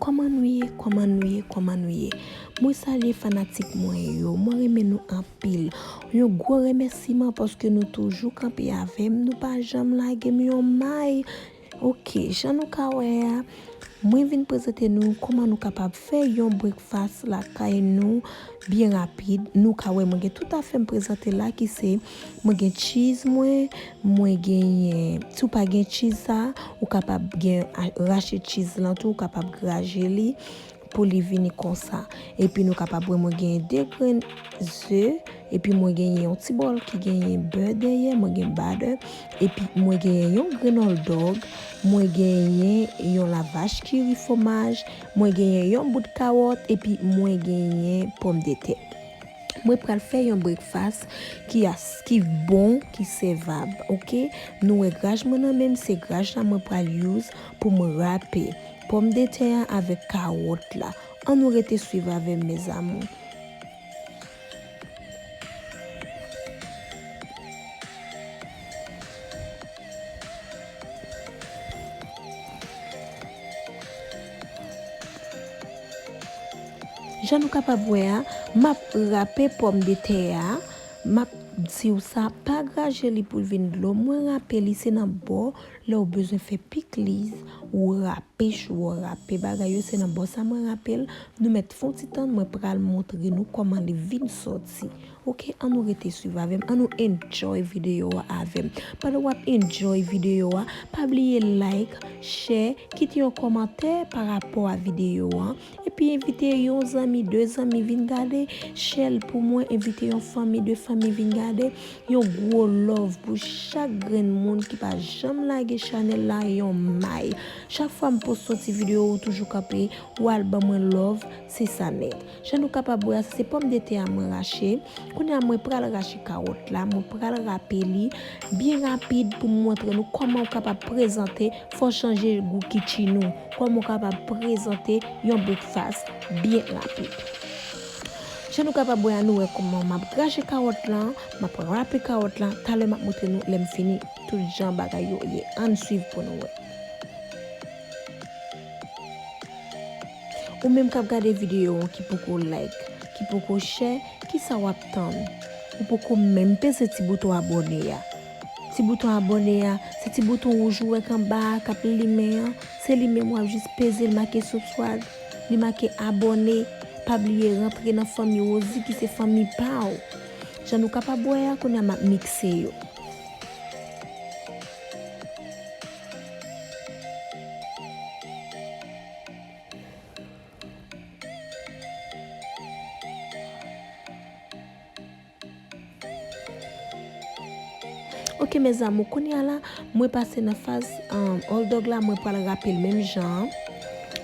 Koman nou ye koman nou ye koman nou ye mwen salye fanatik mwen yo mwen renmen nou anpil yon gwo remèsiman paske nou toujou kanpe avèm nou pa janm lagem yon may. Ok jan nou ka wè a mwen vin prezante nou kòman nou kapab fè yon breakfast lakay nou byen rapid nou ka wè mwen gen tout afè m prezante la ki se mwen gen cheese mwen mwen genyen si w pa gen cheese sa ou kapab gen rache cheese lan tou ou kapab graje li. pou li vini konsa epi nou kapab wè mwen genyen 2 grenn ze epi mwen genyen yon ti bòl ki genyen bè dèyè mwen gen badè epi mwen genyen yon grenn òldòg mwen genyen yon lavach kiri fomaj mwen genyen yon bout kawòt epi mwen genyen pòm de tè mwen pral fè yon brekfas ki as ki bon ki sevab ok nou wè graj mwen nan menm se graj la mwen pral use pou mwen rape. Pomdetè an avèk kawòt la. An nou rete swiv avèm mes amour. Jan nou kapab wè a map rape pomdetè a map diw sa pa graje li poul vin dlo mwen rape li se nan bò Lèw bezwen fè pikliz ou rape chou an rape bagay yo se nan bò sa mwen rapel nou mèt fon ti tann mwen pral montre nou kòman li vin sòti ok an nou rete swiv avèm an nou enjoy video a avèm pandan wap enjoy video a pa bliye like share kite yon kòmantè pa rapò a video an. Epi envite yon zanmi, de zanmi vin gade, share l pou mwen, envite yon fanmi, de fanmi vin gade, yon gwo love pou chak grenn moun ki pa janm lage chanèl la yon may, chak fwa m post yon ti video ou toujou kanpe ou al ban mwen love se sa nèt jan nou kapab wè a se pòmdetè a mwen rache kounye a mwen pral rache kawòt la mwen pral rape li byen rapid pou m montre nou kòman ou kapab prezante Fò chanje gou kitchin ou. Kòman ou kapab prezante yon breakfast byen rapid. Jan nou kapab wè a nou wè kòman map graje kawòt lan, map rape kawòt lan, talè map montre nou lèm fini tout jan bagay yo ye ann swiv pou nou wè. Ou menm kap gade videyo an ki poko like, ki poko share, kisa wap tann? Ou poko menm peze ti bouton abone a. Ti bouton abòne a, se ti bouton wouj ou wè kanba a kap limen an, se li menm wap jis peze l make subswrib, li make abòne, pa bliye rantre nan fanmi Rosie ki se fanmi pa w. Jan nou kapab wè a kounye a map mikse yo. Ok mes amour kounya la mwen pase nan faz hot dog la mwen pral rape l menm jan an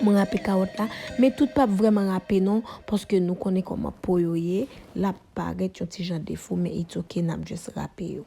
mwen rape kawòt la men tout pap vrèman rape non paske nou konnen kòman po yo ye lap parèt yon ti jan defo men it's ok nap just rape yo.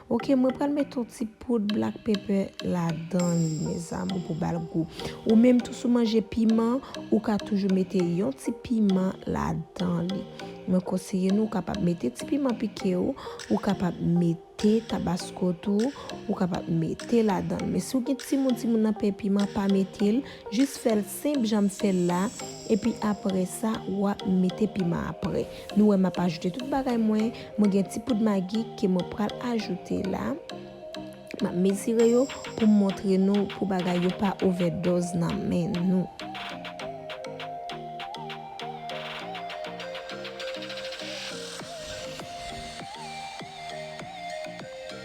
Ok mwen pral met yon ti poud black pepper ladan li mes amour pou bal gou ou menm tou sou manje piman ou ka toujou mete yon ti piman ladan li mwen konseye nou kapab mete ti piman pike ou ou kapab mete tabasco tou ou kapab mete ladan men si ou gen timoun timoun nan pè piman pa metel jis fèl Senp janm fèl la epi aprèsa wap mete piman aprè nou wè map ajoute tout bagay mwen mwen gen ti poud magi ke mwen pral ajoute la map mezire yo poum montre nou pou bagay yo pa ovèdoz nan men nou.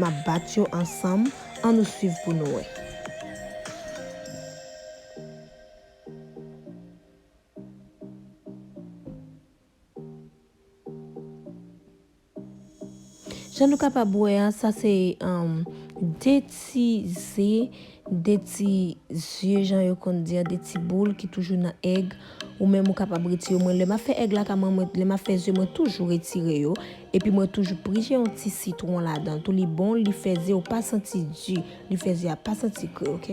Map bat yo ansanm an nou swiv pou nou wè. Jan nou kapab wè an sa se 2 ti ze De ti zye jan yo konn di an de ti boul ki toujou nan èg ou menm ou kapab retire mwen lè map fè èg la kama mwen lè map fè zye mwen toujou retire yo epi mwen toujou prije yon ti sitwon ladan tou li bon li fè zye ou pa santi di li fè zye a pa santi kri ok.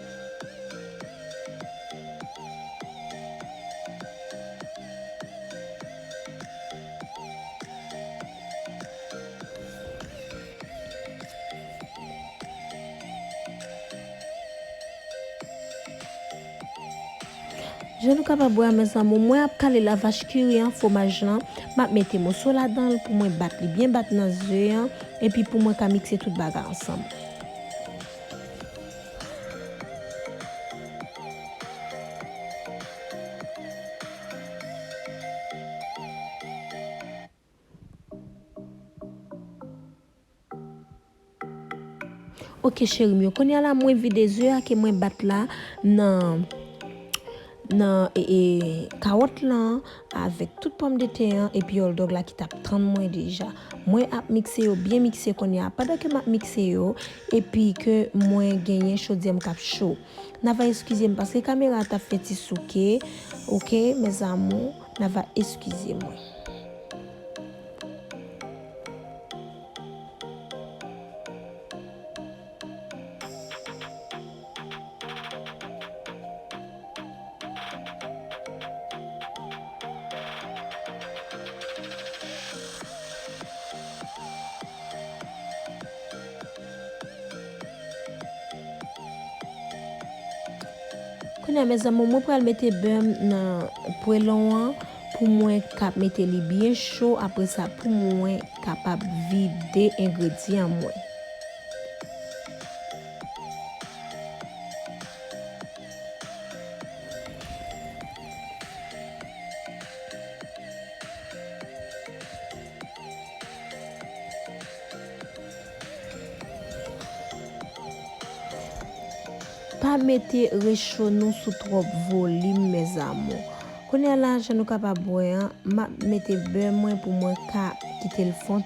Jan nou kapab wè a mes amour mwen ap kale la vache qui rit an fwomaj lan map mete moso ladanl pou mwen bat li byen bat nan ze an epi pou mwen ka mikse tout bagay ansanm. Ok cherim yo, konya la mwen vide ze a ke mwen bat la nan. nan kawòt lan avèk tout pòmdetè an epi òldòg la ki tap tann mwen deja mwen ap mikse yo byen mikse kounya pandan ke map mikse yo epi ke mwen genyen chodyèm kap cho na va eskizem paske kamera a tap fè ti souke ok mes amour na va eskize mwen. Kounye a mes amours mwen pral mete beurre m nan pwelon an pou mwen ka mete li byen cho apre sa pou mwen kapab vide engredyan mwen. Pa mete recho nou sou trop volim mes amour. Kounya la jan nou kapab wè an map mete bè mwen pou mwen ka kitel fond.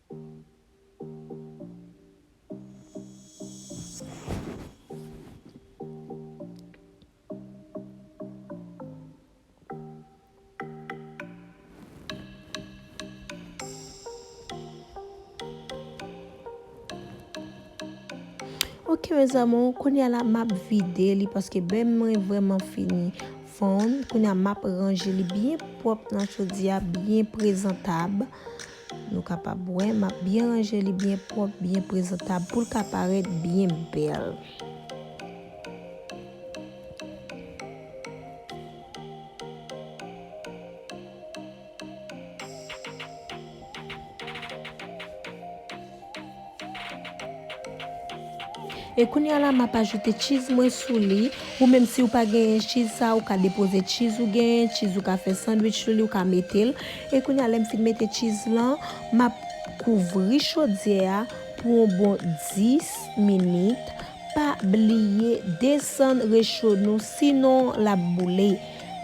Ok mes amours, konya la map vide li paske bèm mwen vreman fini fon. Konya map ranje li byen pwòp nan chodyè a, byen prezantab. Nou kapab wè map byen ranje li byen pwòp byen prezantab poul ka parèt byen bèl. E kounya la map ajoute cheese mwen sou li, ou menm siw pa genyen cheese sa ou ka depoze cheese ou genyen, cheese ou ka fè sandwich sou li ou ka metel, e kounya lèm fin mete cheese lan map kouvri chodyè a pou on bon 10 minit, pa bliye desann recho nou sinon lap boule,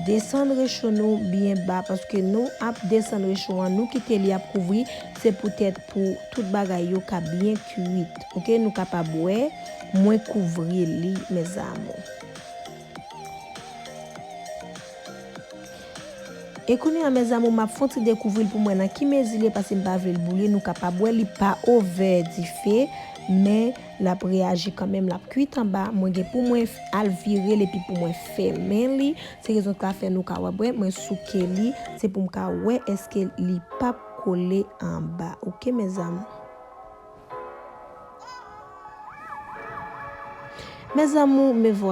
desann recho nou byen ba paske nou ap desann recho an nou kite li ap kouvri se poutèt. pou tout bagay yo ka byen kuit ok nou kapab wè mwen kouvri li mes amour. E kounya mes amour map fon ti dekouvril poum wè nan ki mezi li ye pasem pa vlel boule nou kapab wè li pa ovè dife men lap reyaji kanmenm lap kuit anba mwen gen pou mwen al virel epi pou mwen fèmen li se rezon sa fè nou ka wè mwen souke li se poum ka wè eske li pap kole anba ok mes amour. Mes amour me voilà.